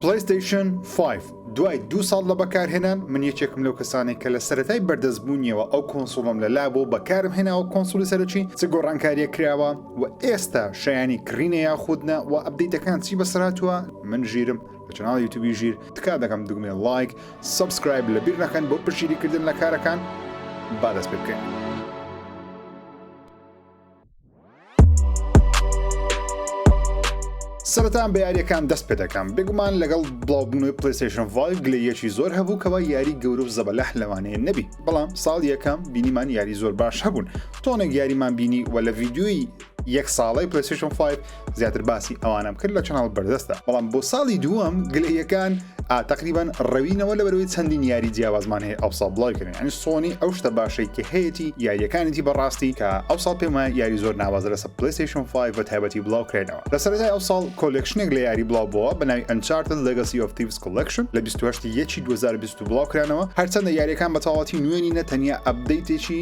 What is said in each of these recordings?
پلەیستەیشن فایڤ دوای دوو ساڵ لە بەکارهێنان من یەکێکم لەو کەسانەی کە لە سەرەتای بەردەست بوونیەوە ئەو کۆنسوڵم لە لا بۆ بەکارم هێناوە کۆنسوڵی سەرەکی چ گۆڕانکاریە کراوە و ئێستا شایانی کڕینە یاخود نا وە ئەپدەیتەکان چی بەسەر هاتووە من ژیرم لە چەناڵی یوتوبی ژیر تکا دەکەم دوگمەی لایک سەبسکرایب لە بیر نەکەن بۆ پشیری کردن لە کارەکان با دەست پێ بکەین. سەرەتان بە یاریەکان دەست پێ دەکەم بێگومان لەگەڵ بڵاوبوونەوەی پلیسشن ڤای گلەیەکی زۆر هەبوو کەەوە یاری گەورە و زەبەلەح لەوانەیە نەبی بەڵام ساڵ یەکەم بینیمان یاری زۆر باش هەبوون تۆنێک یاریمان بینی و لە ڤیددیوی یەک ساڵی پلیسشن 5 زیاتر باسی ئەوانم کرد لە چناڵ بەردەستە بەڵام بۆ ساڵی دووەم گلەیەکان ئاتەقریبان ڕەوینەوە لە بەرەوەی چەندین یاری جیاوازمان هەیە ئەو ساڵ بڵاوکردن ئەنی سۆنی ئەو شتە باشەی کە هەیەی یاریەکانێتی بەڕاستی کە ئەو ساڵ پێمە یاری زۆر ناوازە لەسە پلیسیشن 5 بە تایبەتی بڵاوکرێنەوە لە سەرای ئەو ساڵ کۆلکشنێک لە یاری بڵاو بووە بە ناوی ئەنچارت لەگەسی ئۆف تیڤس کۆلکشن لە 28 یەکی 2020 بڵاوکرانەوە هەرچەندە یاریەکان بەتەواتی نوێنی نەتەنیا ئەبدەیتێکی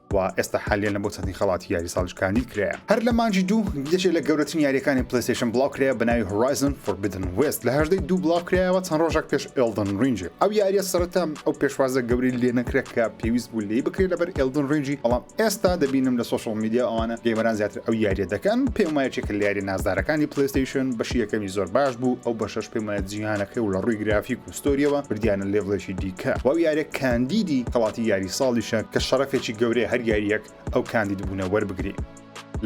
و ئێستا حالییەن بۆ چەندین خەڵاتی یاری ساڵیش کاندید کرایە هەر لە مانگی دوو یەکێک لە گەورەترین یاریەکانی پلەیستەیشن بڵاو کرایە بە ناوی هۆرایزن فۆربیدن وێست لە هەژدەی دوو بڵاو کرایەوە چەند ڕۆژێک پێش ئێلدن رینجی ئەو یاریە سەرەتا ئەو پێشوازە گەورەی لێ نەکرێت کە پێویست بوو لێی بکرێت لەبەر ئێلدن رینجی بەڵام ئێستا دەبینم لە سۆشڵ میدیا ئەوانە گەیمەران زیاتر ئەو یاریە دەکەن پێم وایە چێکە لە یاری نازدارەکانی پلەیستەیشن بەشی یەکەمی زۆر باش بوو ئەو بەشەش پێم وایە جیهانەکەی و لە ڕووی گرافیک ستۆریەوە بردیانە لێڤڵێکی دیکە و ئەو یاریە کاندیدی خەڵاتی یاری ساڵیشە کە شەڕەفێکی گەورەیە هەر یاریەک ئەو کاندید بوونە وەربگری.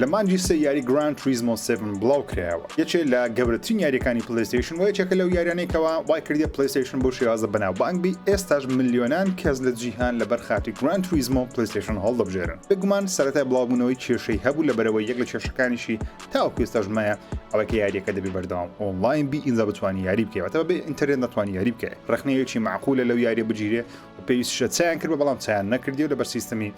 لە مانگی سێ یاری گراند توریزمۆ سێڤن بڵاو کرایەوە یەکێ لە گەورەترین یاریەکانی پلەیستەیشن و یەکێکە لەو یاریانەی کەوا وای کردیە پلەیستەیشن بەو شێوازە بەناوبانگ بی ئێستاش ملیۆنان کەس لە جیهان لەبەر خاتری گراند توریزمۆ پلەیستەیشن هەڵدەبژێرن بێگومان سەرەتای بڵاوبوونەوەی کێشەی هەبوو لەبەرئەوەی یەک لە کێشەکانیشی تاوەکو ئێستاش مایە ئەوەی کە یاریەکە دەبێ بەردەوام ئۆنلاین بی ئینجا بتوانانی یاری بکەی واتە بێ ئینتەرنێت ناتوانانی یاری بکەی ڕخنەیەکی معقولە لەو یاریە بگیرێ و پێویستشە چیان کرد بەڵام چیان نەکردی و لەبەر سیستمی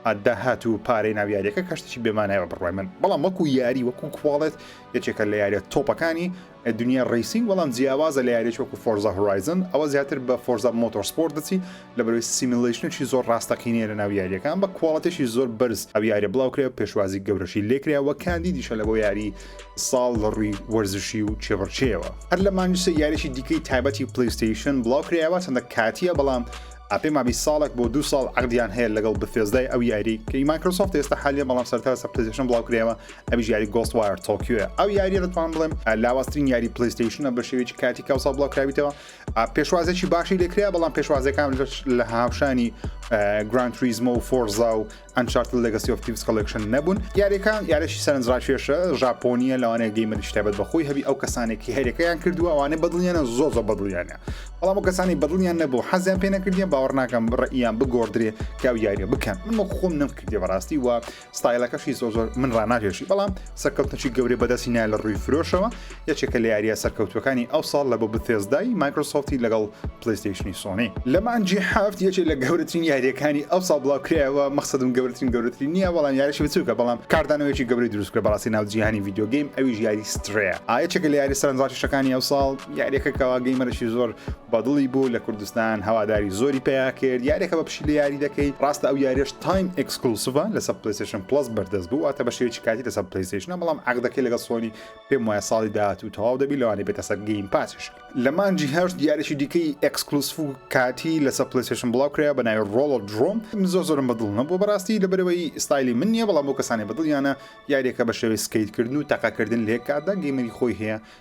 ئادا هات و پارەی ناو یاریەکە کەشتێکی بێمانایەوە بڕای من بەڵام وەکو یاری وەکو کوواڵێت یەکێکە لە یاریە تۆپەکانی دنیای ڕەیسینگ بەڵام جیاوازە لە یاریەکی وەکو فۆرزا هۆرایزن ئەوە زیاتر بە فۆرزا مۆتۆر سپۆرت دەچی لەبەرەوەی سیمیلەیشنێکی زۆر ڕاستەقینەیە لەناو یاریەکە ئەم بە کواڵێتێکی زۆر بەرز ئەو یاریە بڵاو کرێ و پێشوازی گەورەشی لێکرێ وە کاندیدیشە لە بۆ یاری ساڵ لە ڕووی وەرزشی و چێبڕچێەوە هەر لە مانجسە یاریی دیکەی تایبەتی پلیستیشن بڵاو کرایەوە چەندە کاتیە بەڵام ئەپێ مابی ساڵێک بۆ دو ساڵ عقدیان هەیە لەگەڵ بفێزدای ئەو یاری کەی مایکرۆسۆفت ئێستا حالیە بەڵام سەرتا سەر پلیزیشن بڵاو کرێەوە ئەویش یاری گۆست وایەر تۆکیۆە ئەو یاریە دەتوان بڵێم لاوازترین یاری پلیستیشنە بە شێوێکی کاتی کاوسا بڵاوکراویتەوە پێشوازێکی باشی لەکرێ بەڵام پێشوازەکان لە هاوشانی گران تریزمە و فۆرزا و ئەنچارت لەگەسی ئۆفتیس کۆلکشن نەبوون یاریەکان یارێکی سەرنجڕاکێشە ژاپۆنیە لەوانەیە گەیمەری شتابەت بەخۆی هەبی ئەو کەسانێکی هەرەکەیان کردووە ئەوانە بەدڵیانە زۆ زۆ بەدڵیانە بەڵام و کەسانی بەدڵیان نەبوو حەزیان پێ نەکردیان باوەڕ ناکەم ڕئیان بگۆدرێ کاو یاریە بکەن من خۆم نەم کردی بەڕاستی وە ستایلەکەشی زۆر زۆر من ڕاناکێشی بەڵام سەرکەوتنەچی گەورەی بەدەستی نایە لە ڕووی فرۆشەوە یەکێکە لە یاریە سەرکەوتوەکانی ئەو ساڵ لە بۆ بثێزدای مایکرۆسۆفتی لەگەڵ پلیستیشنی سۆنی لە مانجی هەفت یەکێک لە گەورەترین یاریەکانی ئەو ساڵ بڵاوکرایەوە مەخسەدم گەورەترین گەورەترین نییە بەڵام یاریشی بچووکە بەڵام کاردانەوەیکی گەورەی دروستکرە بەڕاستی ناو جیهانی ڤیددیو گەیم ئەویش یاری سترەیە ئاەکێکە لە یاری سەرنجڕاکیشەکانی ئەو ساڵ یاریەکە کەوا گەیمەرەشی زۆر بەدڵی بوو لە کوردستان هەواداری زۆری پیا کرد یاریەکە بە پشی لە یاری دەکەی ڕاستە ئەو یاریش تایم ئەکسکلوسڤە لەسەر پلیسشن پلس بەردەست بوو واتە بەشێکی کاتی لەسەر پلیسشنە بەڵام عقدەکەی لەگە سۆنی پێم وایە ساڵی داات و تەواو دەبی لەوانی بێتە سەر گەیم پاسش لە مانجی هەش دیارێکی دیکەی ئەکسکلوسف و کاتی لەسەر پلیسشن بڵاو کرا بە ناوی ڕۆڵ درۆم زۆر زۆرم بەدڵ نەبوو بەڕاستی لەبەرەوەی ستایلی من نییە بەڵام بۆ کەسانی بەدڵیانە یاریەکە بە شێوەی سکیتکردن و تەقەکردن لێکاتدا گەیمەری خۆی هەیە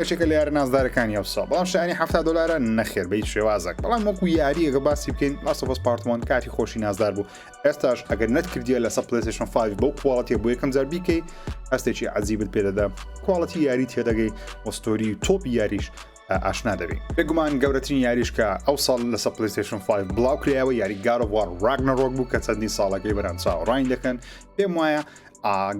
یەکێکە لە یارە نازدارەکانی ئەوسا بەڵام شانی ه دلارە نەخێر بیت شێوازەک بەڵام وەکو یاریەکە باسی بکەین ماسەفەس پارتمان کاتی خۆشی نازدار بوو ئێستاش ئەگەر نەت کردیە لەسەر پلسشن 5 بەو کوواڵەتی بۆ یەکەم جار بیکەی هەستێکی عزیبت پێدەدا کوواڵەتی یاری تێدەگەی وەستۆری تۆپی یاریش ئاشنا دەبی بێگومان گەورەترین یاریشکە ئەو ساڵ لە سە پلیستشن 5 بڵاو کرایەوە یاری گارۆوار ڕاگنەڕۆک بوو کە چەندی ساڵەکەی بەران چاوەڕین دەکەن پێم وایە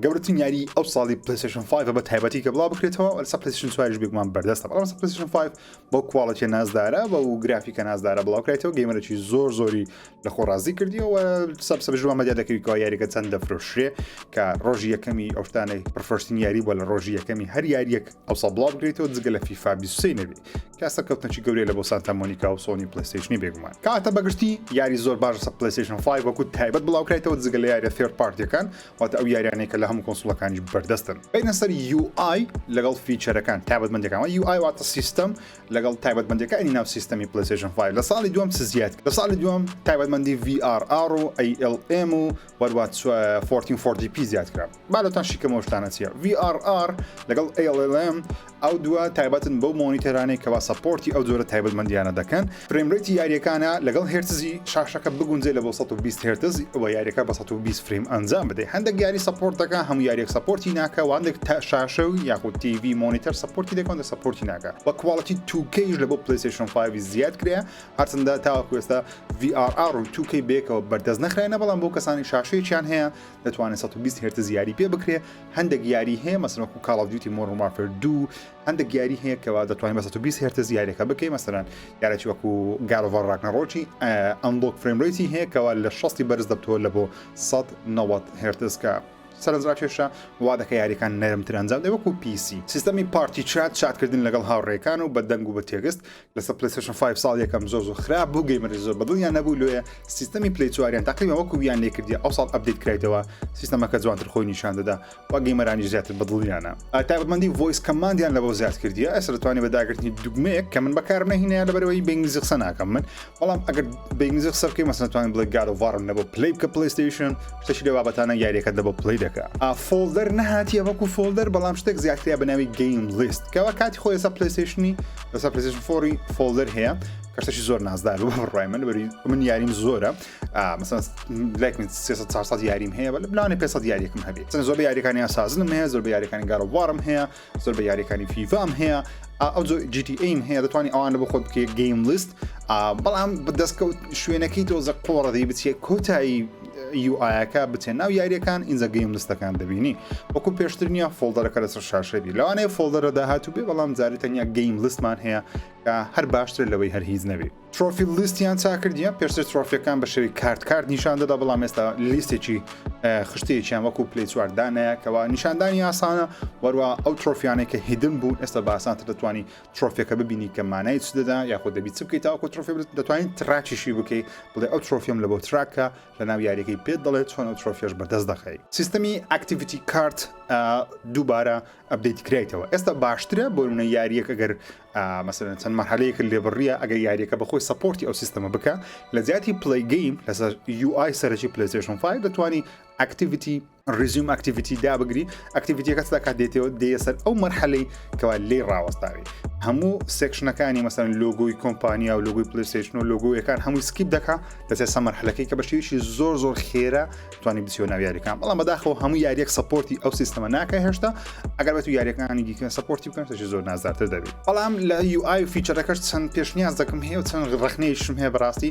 گەورەترین یاری ئەو ساڵی پلیسشن 5 بە تایبەتی کە بڵاو بکرێتەوە لەسە پلیسشن سوارش بێکمان بەردەستە بەڵام سە پلیسشن 5 بۆ کوواڵەتە نازدارە بە و گرافیکە نازدارە بڵاوکرێتەوە گەیمەرەی زۆر زۆری لە خۆ ڕازی کردیەوە سەب سەبژوە مەدیا دەکەویکەوە یاریەکە چەند دەفرۆشرێ کە ڕۆژی یەکەمی ئەوشتانەی پرفرۆشتین یاری بۆ لە ڕۆژی یەکەمی هەر یاریەک ئەوسا بڵاو بکرێتەوە جگە لە فیفا 23 نەبێت کە سەرکەوتنەکی گەورەی لە بۆ سانتا مۆنیکا و سۆنی پلیستیشنی بێگومان کاتە بەگشتی یاری زۆر باش سە پلیستیشن 5 وەکو تایبەت بڵاوکرایتەوە جگە لە یاریە ثێرد پارتیەکان واتە ئەو یاریانەی کە لە هەموو کۆنسڵەکانیش بەردەستن بینە سەر UI لەگەڵ فیچەرەکان تایبەتمەندەکانەوە UI واتە سیستم لەگەڵ تایبەتمەندەکانی ناو سیستەمی پلیستیشن 5 لە ساڵی دوم چ زیاد لە ساڵی دوم تایبەتمەندی VRR و ALM و وەروات 1440 پی زیاد کرا با لۆتان شیکەم ئەو شتانە چیە VRR لەگەڵ ALLM ئەو دووە تایبەتن بەو مۆنیتەرانەی کەوا سەپۆرتی ئەو جۆرە تایبەتمەندیانە دەکەن فریم ڕەیتی یاریەکانە لەگەڵ هێرتزی شاشەکە بگونجێ لە بۆ سەد و بیست هێرتز ئەوە یاریەکە بە سەد و بیست فریم ئەنجام بدەی هەندێک یاری سەپۆرت دەکا هەموو یاریەک سەپۆرتی ناکە واندێک تا شاشە و یاخود تیڤی مۆنیتەر سەپۆرتی دەکەن دە سەپۆرتی ناکە وە کواڵەتی تووکەیش لە بۆ پلەیسێشن 5 زیاد کرێ هەرچەندە تاوەکو ئێستا VR و تووکەی بێکەوە بەردەست نەخراینە بەڵام بۆ کەسانی شاشەیەکیان هەیە دەتوانێت سەد و بیست هێرتز یاری پێ بکرێ هەندێک یاری هەیە مەسەن وەکو کاڵ ئەف دیوتی مۆرن وارفێر دوو هەندێک یاری هەیە کەوا دەتوانین بە سەد و بیست هێرتز یاریەکە بکەین مەسەرەن یارێکی وەکو گارۆڤەر ڕاکنەڕۆکی ئەمبۆک فرێمرێتی هەیە کەوا لە شەستی بەرز دەبتەوە لە بۆ 1990 هێرتز کە سەرنجڕاکێشە وا دەکە یاریەکان نەرمتر ئەنجام دە وەکو پیسی سیستەمی پارتی چات چاتکردن لەگەڵ هاوڕێکان و بە دەنگ و بە تێگەست لەسەر پلەیستەشن فایڤ ساڵ یەکەم زۆر زۆر خراپ بوو گەیمەرش زۆر بەدڵیان نەبوو لۆیە سیستەمی پلی چواریان تاقیمە وەکو ویان لێکردی ئەو ساڵ ئەبدیت کرایتەوە سیستەمەکە جوانتر خۆی نیشان دەدا و گەیمەرانی زیاتر بەدڵیانە تابەتمەندی ڤۆیس کەماندیان لەوە زیاد کردیە ئەسر توانی بە داگرتنی دوگمەیەک کە من بەکارم نەهینەیە لەبەرەوەی بەنگلیزی قسە ناکەم من بەڵام ئەگەر بەنگلیزی قسە بکەی مەسەن توانین بڵێ گاد ئۆف وارم لەبۆ پلی بکە پلەیستەیشن شتەشی لە بابەتانە یاریەکەت لەبۆ پلی دەکە ئا فۆڵدەر نەهاتیە وەکو فۆڵدەر بەڵام شتێک زیاترە بە ناوی گەیم لیست کەوا کاتی خۆی لەسەر پلەیستەیشنی لەسەر پرسیشن فۆری فۆلدەر هەیە کەسەشی زۆر نازدار و بەڕای من بەری من یاریم زۆرە مەسەن لایک من 300 یاریم هەیە بە بلانە 500 یاریەکم هەبێت چەند زۆر یاریەکانی ئاسازنم هەیە زۆر بە یاریەکانی گاڕوارم هەیە زۆر بە یاریەکانی فیفام هەیە ئەو جیتی ئەیم هەیە دەتوانانی ئەوانە بە خۆت بکەیت گەیم لیست بەڵام بەدەستکەوت شوێنەکەی تۆزە قۆڕەدەی بچێت کۆتایی یوئایەکە بچێ ناو یاریەکان ئینجا گەیم لستەکان دەبینی وەکو پێشتر نیە فۆڵدەرەکە لەسەر شاشەبی لەوانەیە فۆڵدەرە داهاتوو بێ بەڵام جاری تەنیا گەیم لستمان هەیە کە هەر باشتر لەوەی هەر هیچ نەبی ترۆفی لیستیان چاکردە پێشتر ترۆفیەکان بە شێوی کارت کارت نیشان دەدا بەڵام ئێستا لیستێکی خشتێکیان وەکو پلی چواردانەیە کەوا نیشاندانی ئاسانە وەروە ئەو ترۆفیانێک کە هیدن بوو ئێستا باسانتر دەتوانانی ترۆفێکە ببینی کە مانای چ دەدا یاخود دەبی چ بکەیت تاوەکو ترۆفێ دەتوانین تراکیشی بکەی بڵێ ئەو ترۆفیم لە بۆ تراکە لە ناو یاریەکەی پێت دەڵێت چۆن ئەو ترۆفێش بەدەست دەخەی سیستەمی ئەکتیڤیتی کارت دووبارە ئەبدەیت کرایتەوە ئێستا باشترە بۆ منە یاریەک ئەگەر مەسەن چەند مەحلەیەک لێبڕیە ئەگەر یاریەکە بەخۆی سپۆرتی ئەو سیستەمە بکە لە زیاتی پلی گەیم لەسەر UI سەرەکی پلیسشن 5 دەتوانانی ئەکتیڤیتی Resume Activity دابگری ئەکتیڤیتیەکە ستا کات دێتەوە دێە سەر ئەو مەرحەلەی کەوا لێ ڕاوەستاوی هەموو سێکشنەکانی مەسەن لۆگۆی کۆمپانیا و لۆگوی پلیسشن و لۆگویەکان هەمووی سکیپ دەکا لەسێ سەمەرحلەکەی کە بەشێویشی زۆر زۆر خێرا توانی بچیۆ ناو یاریەکان بەڵام بەداخەوە هەموو یاریەک سپۆرتی ئەو سیستەمە ناکە هێشتا ئەگەر بە تو یاریەکانی دیکەن سپۆرتی بکەن تەشی زۆر نازدارتر دەبێت بەڵام لە یو آی فیچەرەکەش چەند پێشنیاز دەکەم هەیە و چەند ڕخنەیشم هەیە بەڕاستی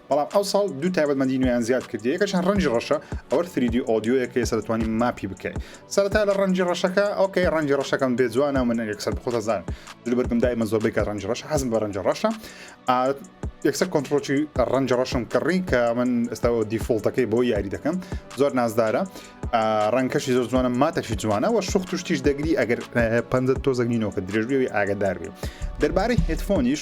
بەڵام ئەوساڵ دوو تایبەتمەندی نوێیان زیاد کردی یەکەشیان ڕەنجی ڕەشە ئەوە سریدی ئۆدیۆیە کە ئێستا دەتوانین ماپی بکەین سەرەتا لە ڕەنجی ڕەشەکە ئۆکەی ڕەنجی ڕەشەکەم بێ جوانە من یەکسەر بخۆتە زان دل بەرگم دایمە زۆربەی کە ڕەنج ڕەش حەزم بە ڕەنج ڕەشە یەکسەر کۆنتترۆکی ڕەنج ڕەشم کڕی کە من ئێستا دیفۆڵتەکەی بۆ یاری دەکەم زۆر نازدارە ڕەنکەشی زۆر جوانە ماتەشی جوانە و شوخ توشتیش دەگری ئەگەر پەنجە تۆزەگنینەوە کە درێژبیەوەی ئاگدار بێ دەربارەی هێتفۆنیش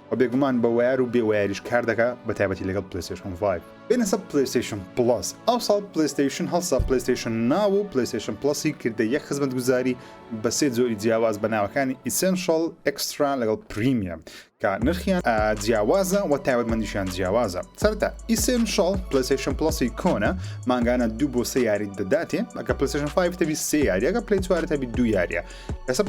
وە بێگومان بە وەیار و بێ وەیاریش کار دەکا بە تایبەتی لەگەڵ پلەیستەیشن فایڤ بێنە سەر پلەیستەیشن پڵەس ئەوساڵ پلەیستەیشن هەڵسا پلەیستەیشن ناو و پلەیستەیشن پڵەسی کردە یەک خزمەتگوزاری بە سێ جۆری جیاواز بە ناوەکانی ئیسێنشەڵ ئێکسترا لەگەڵ پریمیەم کە نرخیان جیاوازە وە تایبەتمەندیشیان جیاوازە سەرەتا ئیسێنشەڵ پلەیستەیشن پڵەسی کۆنە مانگانە دوو بۆ سێ یاریت دەداتێ ئەگە پلەیستەیشن فایڤ تەبی سێ یاریەکە پلەی چوارت هەبی دوو یاریە ئێستا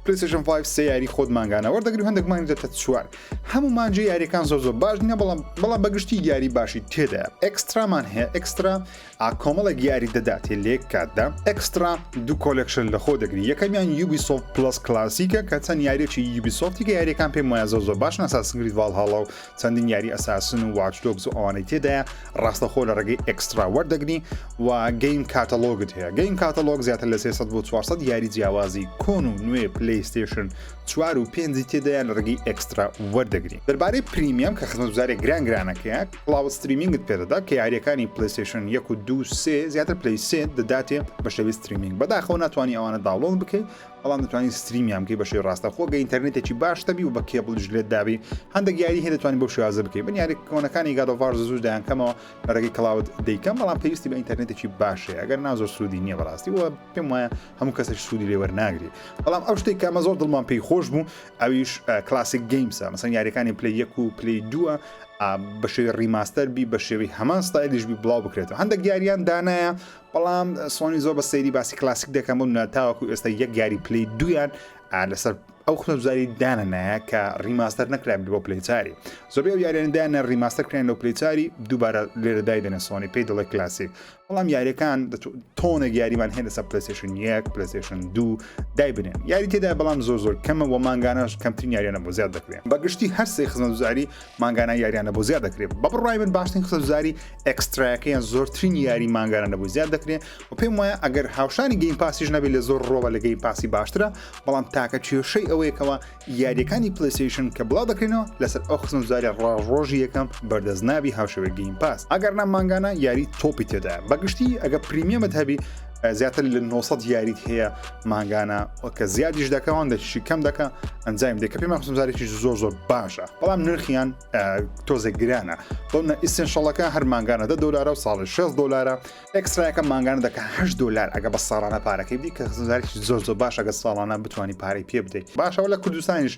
پلیسشن 5 سێ یاری خۆت مانگانە وەردەگری هەندێک مانگ دەتە چوار هەموو مانجی یاریەکان زۆر زۆر باش نیە بەڵام بەڵام بەگشتی یاری باشی تێدا ئەکسترامان هەیە ئەکسترا ئاکۆمەڵێک یاری دەداتێ لێک کاتدا ئەکسترا دوو کۆلکشن لە خۆ دەگری یەکەمیان یوبی سۆف پلس کلاسیکە کە چەند یاریێکی یوبی سۆفتی کە یاریەکان پێم وایە زۆر زۆر باش ناساسنگری ڤالهاڵا و چەندین یاری ئەساسن و واچ دۆگز و ئەوانەی تێدایە ڕاستەخۆ لە ڕێگەی ئێکسترا وەردەگری و گەیم کاتەلۆگت هەیە گەیم کاتەلۆگ زیاتر لە 300 بۆ 400 یاری جیاوازی کۆن و نوێ پلیستشن چوار و پێنجی تێدایە لە ڕێگەی ئێکسترا وەردەگری دەربارەی پریمیەم کە خزمەتزارێک گران گرانەکەیە کلااو ستریمینگت پێدەدا کە یاریەکانی پلیستشن یەک و دو سێ زیاتر پلی سێ دەداتێ بە شێوی ستریمینگ بەداخەوە ناتوانانی ئەوانە داڵۆن بکەیت بەڵام دەتوانی ستریمیان بکەی بە شێوەی ڕاستەخۆ گە ئینتەرنێتێکی باش تەبی و بە کێبڵیش لێت دابی هەندێک یاری هەیە دەتوانانی بۆ شێوازە بکەی من یاری کۆنەکانی گادۆڤار زوو دایانکەمەوە لە ڕێگەی کلااود دەیکەم بەڵام پێویستی بە ئینتەرنێتێکی باشەیە ئەگەر نا زۆر سوودی نییە بەڕاستی و پێم وایە هەموو کەسێک سوودی لێوەر ناگری بەڵام ئەو شتێک کە ئەمە زۆر دڵمان پێی خۆش بوو ئەویش کلاسیک گەیمسە مەسەن یاریەکانی پلی یەک و پلی دووە بە شێوی ڕیماستەر بی بە شێوی هەمان ستایلیش بی بڵاو بکرێتەوە هەندێک یاریان دانایە بەڵام سۆنی زۆر بە سەیری باسی کلاسیک دەکەم بۆ منە تاوەکو ئێستا یەک گاری پلی دویان لەسەر ئەو خنەزاری دانە نایە کە ڕیماستەر نەکرا بۆ پلیچاری زۆبێ و یارێندانە ڕیماستەر کرێن لەو پلیچاری دووبارە لێرەدای دەنە سۆنی پێی دڵی کلاسیک بەڵام یاریەکان تۆنە یاریمان هێن لەسەر پلسیشن یەک پلسیشن دوو دای بنێن یاری تێدا بەڵام زۆر زۆر کەمە وە مانگانەش کەمترین یاریانە بۆ زیاد دەکرێن بەگشتی هەرسێ خزمەزاری مانگانە یاریانە بۆ زیاد دەکرێت بە بڕای من باشترین خزاری ئەکستراەکە یان زۆرترین یاری مانگانە نەبوو زیاد دەکرێت و پێم وایە ئەگەر هاوشانی گەیم پاسیش نەبێت لە زۆر ڕۆوە لە گەیم پاسی باشترە بەڵام تاکە کێشەی ئەوەیەکەوە یاریەکانی پلیسیشن کە بڵاو دەکرێنەوە لەسەر ئەو خزمزاری ڕاژڕۆژی یەکەم بەردەست نابی هاوشەوێت گەیم پاس ئەگەر نامانگانە یاری تۆپی تێدا بەگشتی ئەگە پریمیەمت هەبی زیاتر لە 900 یاریت هەیە مانگانە کە زیادیش دەکەوان دەشی کەم دەکە ئەنجام دەکە پێمان خزمزارێکی زۆر زۆر باشە بەڵام نرخیان تۆزێک گرانە بەڵە ئیسنشەڵەکە هەر مانگانە دە دلارە و ساڵی 6 دلارە ئەکسرایەکە مانگانە دەکە هە دلار ئەگە بە ساڵانە پارەکەی بی کە خزمزارێکی زۆر زۆر باشە گە ساڵانە بتانی پارەی پێ بدەیت باشەوە لە کوردستانیش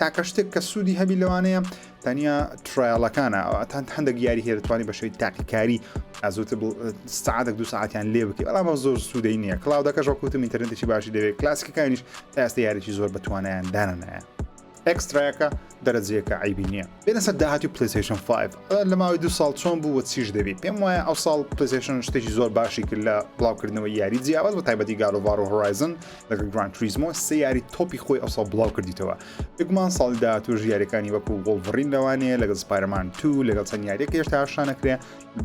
تاکە شتێک کە سوودی هەبی لەوانەیە تەنیا ترایەڵەکانە ئەوتان هەندێک یاری هەیە دەتوانانی بە شێوی تاقیکاری ئازوت سعاتێک دو ساعتیان لێ بکە بەڵام زۆر سوودەی نییە کلااودەکە ژۆکوتم ئینتەرنێتێکی باشی دەوێت کلاسیکەکانیش تاستە یاریی زۆر بەتوانیان دانانایە ئەکستراەکە دەرەجەیەەکە عیبی نییە بێنەسەر داهاتی پلیسیشن 5 لە ماوەی دو ساڵ چۆن بوو وە چیش دەبی پێم وایە ئەو ساڵ پلیسیشن شتێکی زۆر باشی کرد لە بڵاوکردنەوەی یاری جیاواز بە تایبەتی گالۆڤار و هۆرایزن لەگەڵ گران تریزمۆ سێ یاری تۆپی خۆی ئەوسا بڵاو کردیتەوە بگومان ساڵی داهاتوش یاریەکانی وەکو وڵڤڕین لەوانەیە لەگەڵ سپایرمان تو لەگەڵ چەند یاریەکە هێشتا هاشانەکرێ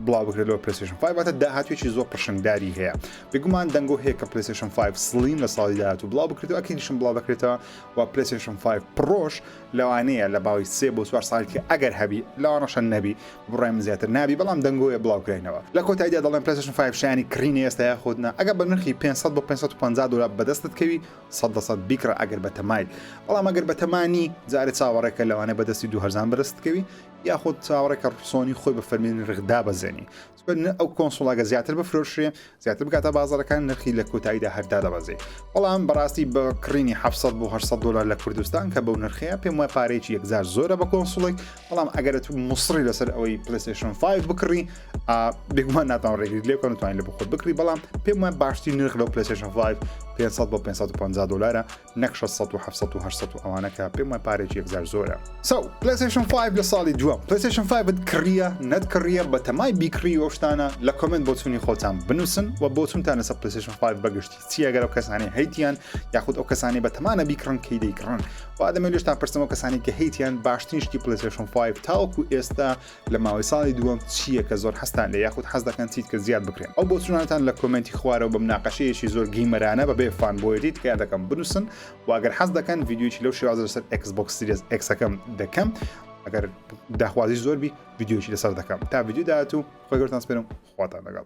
بڵاو بکرێتەوە پرسیشن فایباتە داهاتوێکی زۆر پرشنگداری هەیە بگومان دەنگۆ هەیە کە پرسیشن 5 سلیم لە ساڵی داهاتوو بڵاو بکرێتەوە ئەکیشم بڵاو بکرێتەوە و پرسیشن 5 پرۆش لەوانەیە لە باوی سێ بۆ چوار ساڵ کە ئەگەر هەبی لەوانەشە نەبی بڕای من زیاتر نابی بەڵام دەنگۆیە بڵاوکراینەوە لە کۆتایدا دەڵێن پلەسشن فایف شایانی کڕینی ئێستا یاخود نا ئەگەر بە نرخی پێنج سەد بۆ پێنج سەد و پەنجا دۆلار بەدەستت کەوی سەد لە سەد بیکڕە ئەگەر بە تەمای بەڵام ئەگەر بە تەما نی جارێ چاوەڕێکە لەوانەیە بەدەستی دوو هەرزان بەدەستت کەوی یاخود چاوەڕێکە سۆنی خۆی بە فەرمی نرخ دابەزێنی ئەو کۆنسوڵاگە زیاتر بفرۆشرێ زیاتر بکاتە بازارەکان نرخی لە کۆتاییدا هەردا دەبەزێ بەڵام بەڕاستی بە کڕینی 700 بۆ 800 دلار لە کوردستان کە بەو نرخەیە پێم وای پارێکی یەکجار زۆرە بە کۆنسوڵێک بەڵام ئەگەرە تو مسڕی لەسەر ئەوەی پلیسشن 5 بکڕی بگومان ناتان ڕێگری لێکۆن توانین لە بخۆت بکری بەڵام پێم وای باشتری نرخ لەو پلیسشن 5 500 بۆ 550 دلارە نەک شەش سەد و حەفت سەد و هەشت سەد و ئەوانە کە پێم وای پارەیەکی یەکجار زۆرە. سەو پلەیستەیشن فایڤ لە ساڵی دووەم پلەیستەیشن فایڤت کڕیە نەت کڕیە بەتەمای بیکڕی و ئەو شتانە لە کۆمێنت بۆچوونی خۆتان بنووسن وە بۆچوونتان لەسەر پلەیستەیشن فایڤ بەگشتی چیە گەر ئەو کەسانەی هەیتیان یاخود ئەو کەسانەی بەتەمانە بیکڕن کەی دەیکڕن وا دەمەوێت لێشتان پرسم ئەو کەسانی کە هەیتیان باشترین شتی پلەیستەیشن فایڤ تاوەکو ئێستا لە ماوەی ساڵی دووەم چییە کە زۆر حەزتان لێ یاخود حەز دەکەن چیت کە زیاد بکرێن ئەو بۆچوونانتان لە کۆمێنتی خوارەوە بە مناقەشەیەکی زۆر گەیمەرانە بەبێ فانبۆیەتی تکایە دەکەم بنووسن و گەر حەز دەکەن ڤیدیۆیەکی لەو شێوازە لەسەر ئێکس بۆکس سیریەس ئێکسەکەم دەکەم ئەگەر داخوازی زۆر بی ڤیدیۆیەکی لەسەر دەکەم تا ڤیدیو داهاتوو خۆی گەورتان سپێنم خواتان لەگەڵ